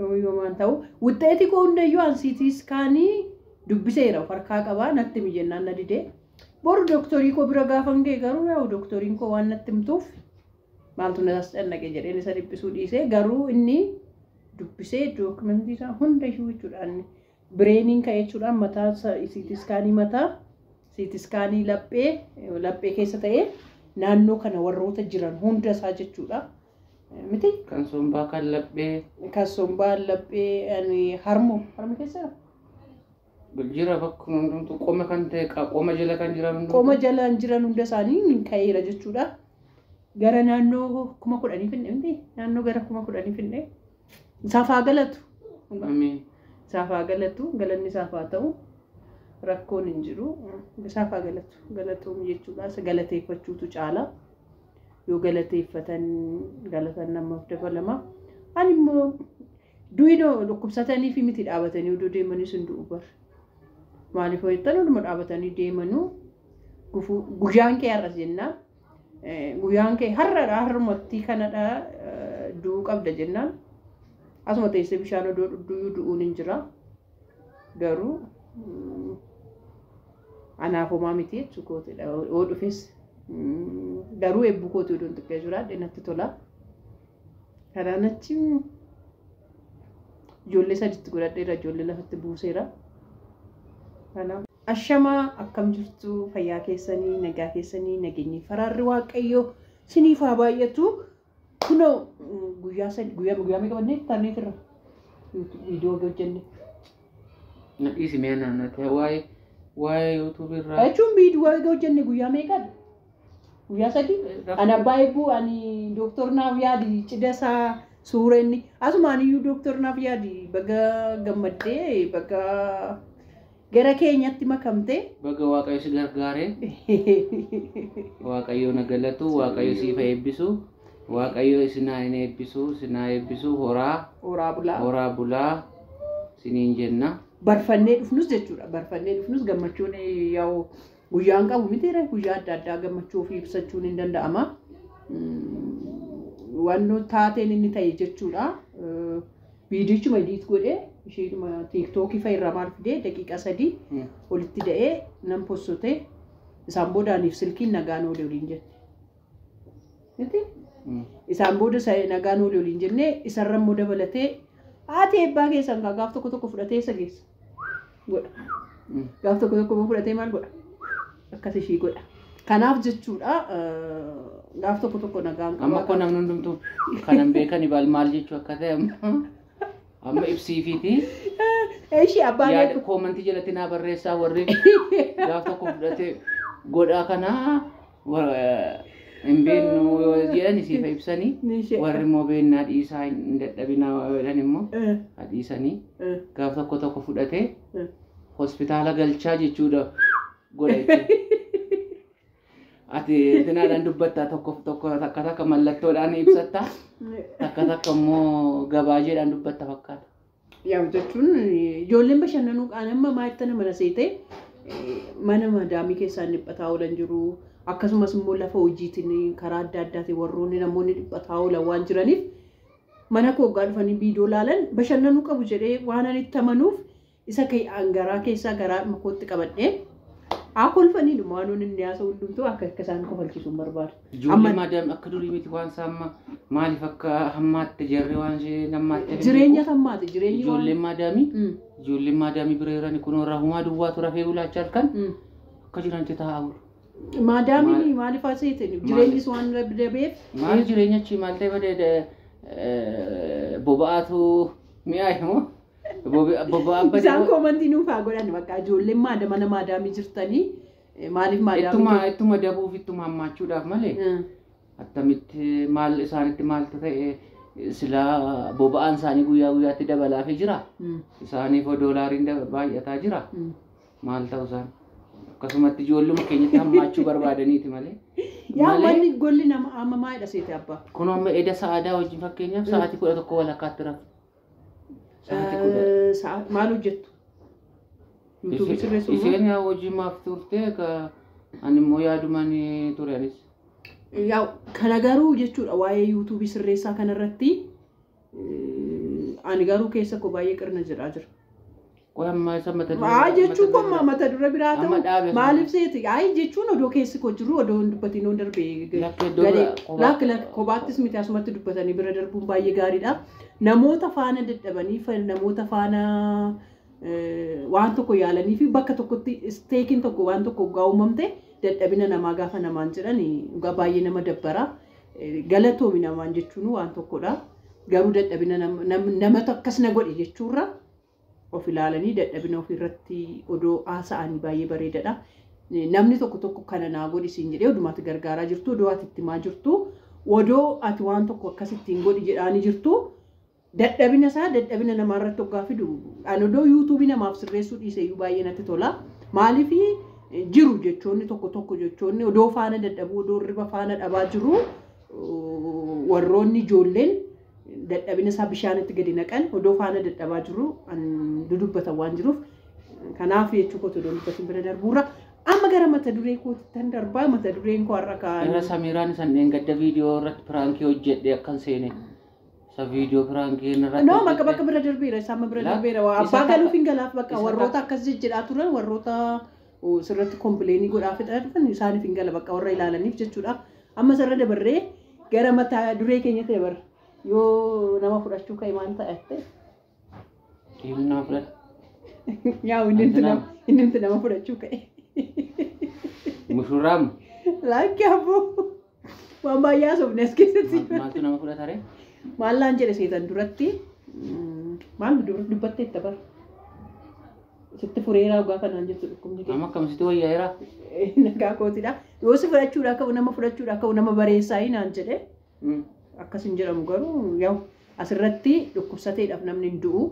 Yoo yoomaan ta'u wuxxeetii koo hundayyuu an siitii iskaanii dubbiseera of harkaa qabaa natti himi jennaan na didee. Boru doktorii koo bira gaafan ga'e garuu yaa'u doktoriin koo waan natti himtuuf maaltu na tascannaqe jedheen isa dhiphisuu dhiisee garuu inni dubbisee dookumentii isaa hundayyuu jechuudha inni bireeniin ka'e jechuudha mataa siitii iskaanii mataa siitii iskaanii laphee laphee keessa ta'ee naannoo kana warroota jiran hunda isaa jechuudha. Miti? Kan sombaa kan laphee. Kan sombaa laphee ani harmoo harmi keessa jira. Jira bakkuma hundumtu qoma kan ta'e qa- qoma jala kan jiran hundumtu. Qoma jalaan jiran hunda isaanii hin ka'eera jechuudha. Gara naannoo kuma kudhanii finne miti? Naannoo gara kuma kudhanii finne. Isaaf haa galatu. Ameen. Isaaf haa galatu. Galanni isaaf haa ta'u. Rakkoon hin jiru. Isaaf haa galatu. Galatoom jechuudha. Isa galateeffachuutu caala. Yoo galateeffatan galatan namaaf dabalama. Ani immoo duwidoo dhukkubsatanii fi miti dhaabatanii oduu deemanii sun du'u bar. Maaliif hojjetan hunduma dhaabatanii deemanuu gufuu guyyaan kee har'as jennaan Guyyaan kee har'adha har'umattii kanadha du'uu qabda jennaan asuma teessee bishaan odoo dhugduyyuu du'uun hin jira garuu anaaf homaa miti jechuu kootidha yoo dhufes garuu eebbuu kootii odoon xiqqee jiraadhe natti tola kanaan achi ijoollee saditti godhadheera ijoollee lafatti buuseera kanaaf Ashamaa akkam jirtu fayyaa keessanii nagaa keessanii nageenyi faraarri waaqayyoo siniif haa baay'atu kunoo mm, guyyaa sadi guyyaa guyyaa meeqa bannee intarneetii irra viidiyoo wagii hojjenne Na dhiisi mee naannatti waa'ee waa'ee yuutuubii irraa. jechuun viidiyoo wagii hojjenne guyyaa meeqa guyyaa sadi ani abbaa eebbuu ani dooktor naaf yaadi cida isaa suura inni asuma ani iyyuu dooktor naaf yaadi baga gammaddee baga Gara keenyatti makamtee. Baga Waaqayyo si gargaare. Waaqayyo na galatu, Waaqayyo siif haa eebbisu. Waaqayyo isin haa hin eebbisu, isin haa eebbisu, horaa, Horaa bulaa. horaa bulaa isiniin jenna. Barfannee dhufnus jechuudha. Barfannee dhufnus gammachuun eh, yaa'u guyyaan qabu miti ree guyyaa adda addaa gammachuu ofii ibsachuun hin danda'ama. Mm, Waan nu taateen inni ta'e jechuudha. Eh, Viidiyochuma ediit godhee isheedhuma tiiktookii fa'i irraa maal fidee daqiiqaa sadii olitti da'ee nan possotee isaan booda aniif silkiin nagaan oole waliin jette. Miti? Isaan booda sa- nagaan oole waliin jennee isarra immoo dabalatee haati eebbaa keessan kaa gaaf tokko tokko fudhatee isa geessa. godha. Gaaf tokko tokko fudhatee maal godha? Akkas ishii godha. Kanaaf jechuudha gaaf tokko tokko nagaan qaba. Amma koo namni hundumtuu kanan beekan ibaal maal jechuu akka ta'e amma amma ibsiifiiti. Ishii abbaan Yaada koomantii jalatti naa barreessaa warri gaaf tokko fudhatee godhaa kanaa hin beeknu yoo jedhan isiif ibsanii Nishee. warri immoo beennaa dhiisaa hin dadhabinaa yoo jedhan immoo Eh, hadhiisanii eh, gaaf tokko tokko fudhatee eh. hospitaala galchaa jechuudha godha jechuudha. Ati tinaadhaan dubbattaa tokko tokko takka takka mallattoodhaan ibsattaa takka takka immoo gabaajeedhaan dubbatta fakkaata. Yaa'u jechuun ijoolleen bashannanuu qaana amma maayittana mana seetee mana madaamii keessaan dhiphataa oolan jiru. Akkasumas immoo lafa hojiitiin karaa adda addaatiin warroonni namoonni dhiphataa oolan waan jiraniif mana koo hoggaa dhufanii viidiyoo laalan bashannanuu qabu jedhee waan ani itti amanuuf isa keeyaan garaa keessaa garaa kootti qabadhee haa kolfaniidhuma waan inni haasa'u hundumtuu akka akka isaan kofalchiisu hin barbaadu. Ijoollee Amma- maadaam akka durii miti waan isaa amma maaliif akka hammaatte jarri waan ishee hammaatte. Jireenya tammaate jireenyi waan. Ijoolleen maadaamii Mm, ijoolleen maadaamii bira jirani kunoo rahumaa duwwaa tura fee gulaacha halkan mm. akka jiranti taa'aa bulu. Maadaamiin Maal- maaliif haa seete jireenyis waan dabeef. Maal jireenya achi maal ta'e badee boba'aatu mi'aa immoo boba'aa Isaan badee koomantii nuuf haa godhan bakka ijoolleen maada mana maadaamii jirtanii Maaliif maadaamii Ittuma kee- ittuma dabuuf ittuma hammaachuudhaaf malee Eh, attamitti maal isaanitti maaltu ta'e silaa boba'aan isaanii guyyaa guyyaatti dabalaafii jira. mm, Isaaniif doolaariin daba- baay'ataa jira. mm. Maal ta'u isaan? Akkasumatti ijoolluma keenyatti hammaachuu barbaadaniiti malee. Yaa Malee- wanni golli nama amma maalidha seete abbaa? Kun amma eda sa'aadaa wajjin fakkeenyaaf sa'aatii kudha tokko walakkaatti rafu. Sa'aatii kudha. Eh, Sa'aat maal hojjettu? Yuutuubii sirreessuun moo? Isheen yaa hojii maaf turte ka ani immoo yaadumaan ture anis. Yaa kana garuu jechuudha waa'ee yuutuubii sirreessaa kanarratti eh, ani garuu keessa koo baay'ee qirna jedhaa jira. Qoy amma isa mata duree Maa biraa- jechuu mata koo duree maa biraa- mata dura biraa Amma ta'u dhaabe maaliif sana. seeti? Ayi jechuun odoo keessi koo jiru odoo hin dubbatiin oon darbee Lakki iddoo galee biraa kophaa- lakki lakki kophaattis miti asumatti dubbatanii bira darbuun baay'ee gaariidha. Namoota faana dadhabanii fa- namoota faana eh, waan tokko yaalanii fi bakka tokkotti isteekiin tokko waan tokko hoggaa uumamte dadhabina namaa gaafa namaan jedhan dhugaa baay'ee nama dabbara. Eh, Galatoomi namaan jechuun waan tokkodha. Garuu dadhabina nam- nam- namatu akkas na godhe jechuurra of ilaalanii dadhabina ofii irratti odoo haasa'anii baay'ee bareedadha. Namni tokko tokko kana naa godhi siin jedhee odumaa ati gargaaraa jirtu odoo ati itti himaa jirtu odoo ati waan tokko akkas ittiin godhi jedhaanii jirtu dadhabina isaa dadhabina namaa irratti hoggaa fidu an odoo yuutuubii namaaf sirreessuu dhiise iyyuu baay'ee natti tola. Maaliif jiru jechoonni tokko tokko jechoonni odoo faana dadhabuu odoo hirriba faana dhabaa jiru warroonni ijoolleen dadhabina isaa bishaanitti gadi naqan odoo faana dadhabaa jiru dudubbatan waan jiruuf kanaaf jechuu kootu odoo dubbatiin bira darbuurra amma gara mata duree koottan darbaa mata dureen koo har'a kaan. Gara Samiiraan isan dheengadda viidiyoo irratti piraankii hojjedhe akkan seene. Isa viidiyoo piraankii irratti. No bakka bakka bira darbeera isa amma bira darbeera waa abbaa galuuf hin galaaf bakka warroota akkas jijjidhaa turan warroota sirratti kompleenii godhaa fixaa dhufan isaaniif hin gala bakka warra ilaalaniif jechuudha. Ammas irra dabarree gara mata duree keenyatti dabarra. Yoo nama fudhachuu ka'e maal ta'atte? Dhiirri nama fudhata. Yaa inni Ati nama- nama inni nuti nama fudhachuu ka'e. Mushurraam Laakki abboo waan baay'ee haasofne as keessatti. ma- maaltu nama fudhata ree? Maallaan jedhe seetan duratti mm, maal dubbattee itti bara. Sitti fureeraa ogaa kanaan jettu dhukkubni kee. Amma akkamitti wayyaa'eera? Nagaa kootidha. Yoo si fudhachuudha akka nama fudhachuudha akka nama bareessaa hinaan jedhe Mm. akkas hin jedhamu garuu yaa'u asirratti dhukkubsateedhaaf namni hin du'u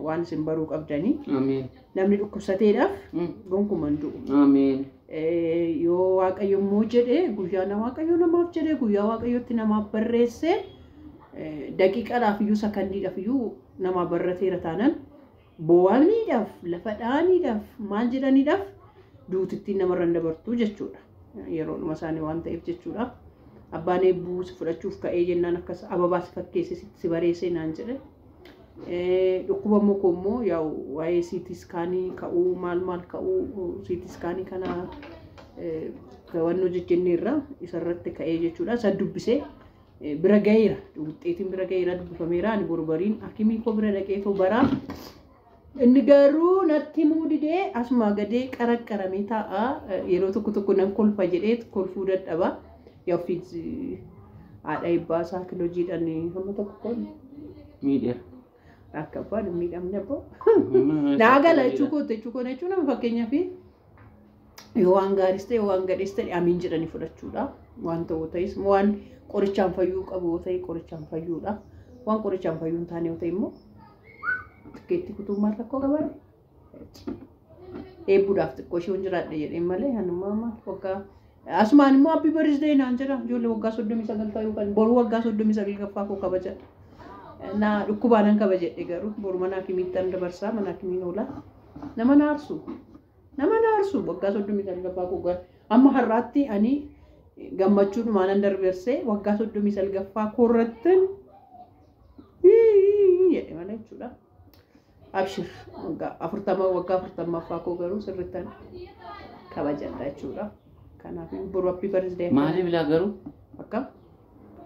waan isin baruu qabdanii Ameen. namni dhukkubsateedhaaf Mm. gonkumaa hin du'u. Ameen. Eh, yoo waaqayyo immoo jedhe guyyaa na waaqayyo namaaf jedhe guyyaa waaqayyotti namaaf barreesse eh, daqiiqaadhaaf iyyuu sakandiidhaaf iyyuu namaa barrateera taanaan boo'aniidhaaf, lafa dha'aniidhaaf, maal jedhaniidhaaf duutittiin namarra hin dabartu jechuudha. Yeroodhuma isaanii waan ta'eef jechuudha. Abbaan eebbuu si fudhachuuf ka'ee jennaan akkas ababaa si fakkeesse si- si bareessee naan jedhe. Eh, Dhukkuba immoo koo immoo yaa'u waa'ee siitii iskaanii ka'uu maal maal ka'uu siitii iskaanii kana eh, to'annoo jijjiirneerra isarratti ka'ee jechuudha. Isa dubbisee bira gaheera wuxxeetiin bira gaheera dubbifameera ani borbariin akimii koo bira dhaqee too baraa inni garuu natti himuu didee asumaa gadee qaraqqaramee taa'a yeroo tokko tokko nan kolfa jedhee kolfuu dadhaba yaa ofiis haadha ebbaasaa kilojiidhaan hamma tokko miidheera. Akka abbaan hin miidhamne abboo. Naa gala jechuu koo jechuu koo jechuun nama fakkeenyaaf yoo waan gaariis ta'e yoo waan gadhees ta'e amiin jedhanii fudhachuudha. Waan ta'u ta'es immoo waan qorichaan fayyuu qabu yoo ta'e qorichaan fayyuudha. Waan qorichaan fayyuu hin taane yoo ta'e immoo tikkeetti kutuun maal rakkoo qabaadha. Eebbuudhaaf xiqqoo ishee hin jiraadhe jedheen malee hanuma amma waggaa asumaan immoo abbi barisdee naan jedha ijoollee waggaa soddomii sagal ta'uu kan boruu waggaa soddomii sagal gaffaa koo kabaja. Na dhukkubaanan kabajedhe garuu boru mana hakimiittan dabarsaa mana hakimiin oola. Nama na aarsu. Nama na aarsu waggaa soddomii sagal gaffaa koo gara amma har'aatti ani gammachuudhumaan nan darbersee waggaa soddomii sagal gaffaa koo irrattin jedhe malee jechuudha. Abshir waggaa afurtama waggaa afurtammaffaa koo garuu sirrittan kabajadha jechuudha. Kanaaf boru happy birthday akka Maaliif laa garuu akkam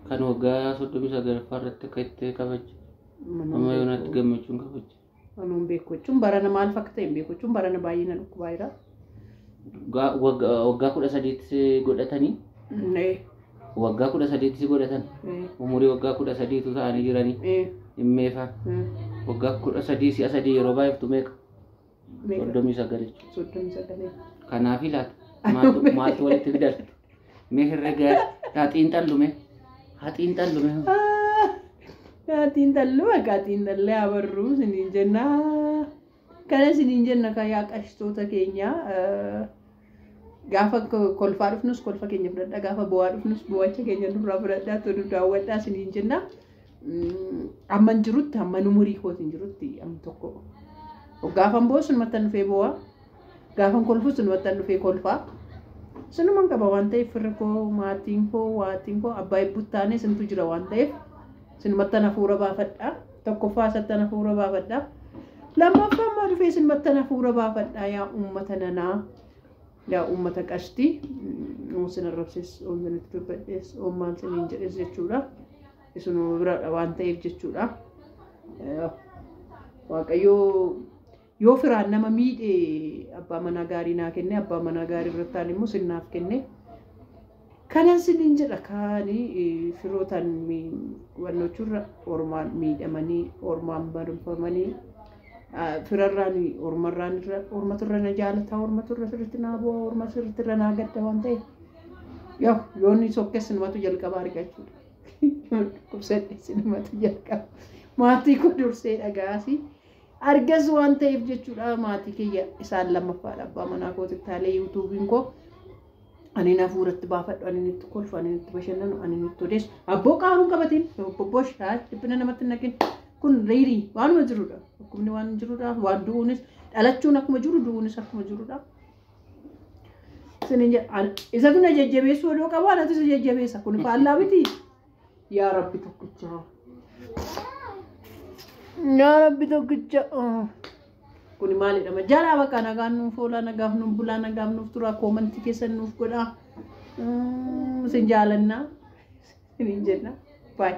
kan waggaa soddomii sagalaffaa irratti akka itti kabajju manuma amma yoonaatti beeku. gammachuun kabajju. Anuun beeku jechuun barana maal fakkaata hin beeku jechuun barana baay'ee na dhukkubaa jira. Ga- wagga- Waggaa kudha sadiitti si godhatanii Ee, waggaa kudha sadiitti si godhatan ee, umurii waggaa kudha sadiitu ta'anii jiranii ee, dhimmeefa ee, waggaa kudha sadii si'a sadii yeroo baay'iftu meeqa meeqa? soddomii sagal jechuudha. Soddomii sagalee. Kanaaf ilaata maaltu maaltu walitti fidal mee herregaa haa xiinxallu mee haa xiinxallu mee Gaatiin talluu gaatiin tallee abarruu siniin jennaa. Kana isiniin jenna kaa yaa qashtoota keenya gaafa kolfaa dhufnus kolfa keenya fudhadhaa gaafa boo'aa dhufnus boo'acha keenya nurraa fudhadhaa tolu daawwadhaa isiniin jenna. Amman jirutti amman umurii kootiin jirutti am tokko gaafan boo'u sunumattan dhufee boo'aa gaafan kolfu sunumattan dhufee kolfaa. Sunuman qaba waan ta'eef firri koo maatiin koo waatiin koo abbaa ibbuttaanee sintu jira waan ta'eef. Sinumattan hafuura baafadha. Tokkoffaa isattan hafuura baafadha. Lammaffaa immoo dhufee sinumattan hafuura baafadha yaa uummata nanaa. Yaa uummata qashtii. Oon sin arrabsees, oon sin itti dubbadhees, oon maal siniin jedhees jechuudha. Isinuma biradha waan ta'eef jechuudha. Waaqayyoo Yoo firaan nama miidhe abbaa manaa gaarii naa kenne, abbaa manaa gaarii irrattaan immoo sin naaf kenne. Kanan sinin jedha kaani firootaan wannochurra ormaan miidhamanii, ormaan marfamanii, firarraan, ormarraan irra, ormatu irra na jaalataa, ormatu irra sirritti naa bu'aa, ormatu sirritti irra naa gadda waan ta'eef. Yoo yoonni sokkes sinumatu jalqaba argachuudha. Dhukkubsadhe sinumatu jalqaba. Maatii koo dursee dhagaasi. arges waan ta'eef jechuudha maatii kiyya isaan lammaffaadha abbaa manaa kooti taalee yuutuubiin koo ani na fuuratti baafadhu ani itti kolfu ani itti bashannanu ani itti odeessu abboo qaaruun qabatiin bobboo shaa dhiphina namatti naqin kun riirii waanuma jirudha dhukkubni waan jirudha waan du'uunis dhalachuun akkuma jiru du'uunis akkuma jirudha. Isatu na jajjabeessu odoo qabu anatu isa jajjabeessa kun faallaa miti. Yaa Rabbi tokkicha. Yaa Rabbi tokkicha. Kuni maalidha? Ma jaalaa bakka nagaan nuuf oolaa, nagaaf nuuf bulaa, nagaaf nuuf turaa, koomantii keessan nuuf godhaa. Mm, Isin jaalannaa. Isin hin jenna. Bye.